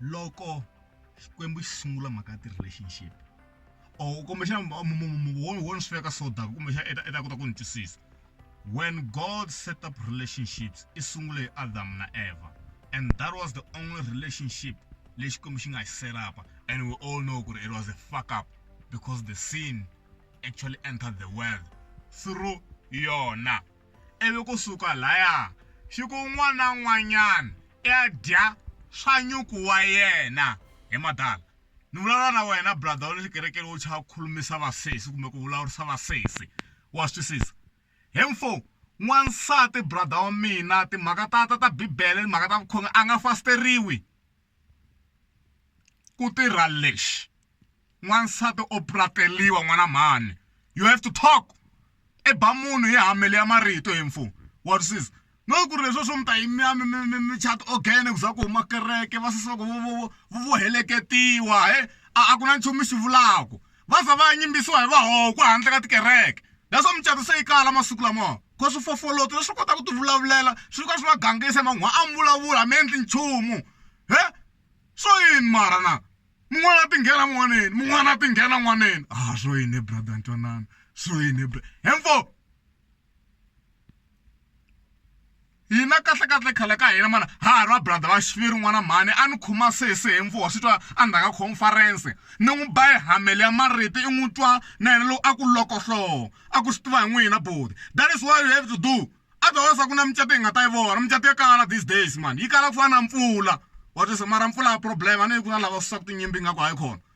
loko xikwembu xi sungula mhaka ya ti-relationship or kumbexana wona swi veka so dark kumbexana i ta i ta kota ku ni twisisa when god set up relationships i sungule hi adam na eva and that was the only relationship leyi xikwembu xi nga xi set up and we all know ku ri it was a fuck up because the sin actually entered the world through yona ivi ku suka lhaya xi ku un'wana na un'wanyana i ya dya swa nyuku wa yena. He madala, ni vulavula na wena brother wa le xikerekeni wo chava ku khulumisa vasesi kumbe ku vulavurisa vasesi, wa swi twisisa? He mfo, n'wansati brother wa mina timhaka ta ta ta Bibele timhaka ta vukhongeri a nga fasteriwi. ku tirha lexi n'wansati o prateliwa n'wana mhani you have to talk i ba munhu hi hamele ya marito he mfo wa twisisa no ku ri leswi swo mi ta yi mi ya mi mi mi mi chata ogene ku za ku huma kereke va sesi va ku vo vo vo vo vo heleketiwa he a a ku na nchumu xi vulaku va za va yimbisiwa hi vahokwa handle ka tikereke that's why mucato se yi kala masiku lamawa. Because swifofoloto leswi kota ku ti vulavulela swi ka swi va gangisa man'wa a mi vulavula mi endli nchumu he so yini mara na mun'wana ti nghena n'waneni mun'wana ti nghena n'waneni a ah, swo yini brother ntwanana swo yini hemfo hina kahlekahle khale ka hina mana ha ha ri va brother va xiviri n'wana mhani a ni khoma sesi hi mfuwa swi twa a ndzhaka conference ni n'wi ba ehamele ya mariti i n'wi twa na yena lowu a ku lokohlowo a ku swi tiva hi n'wina boti that is why you have to do otherwise a ku na micato hi nga ta yi vona micato ya kala these days mani yi kala ku fana na mpfula wa twisa mara mpfula ya problem a ni yi ku na lava susaku tinyimpi nga ku hayi khona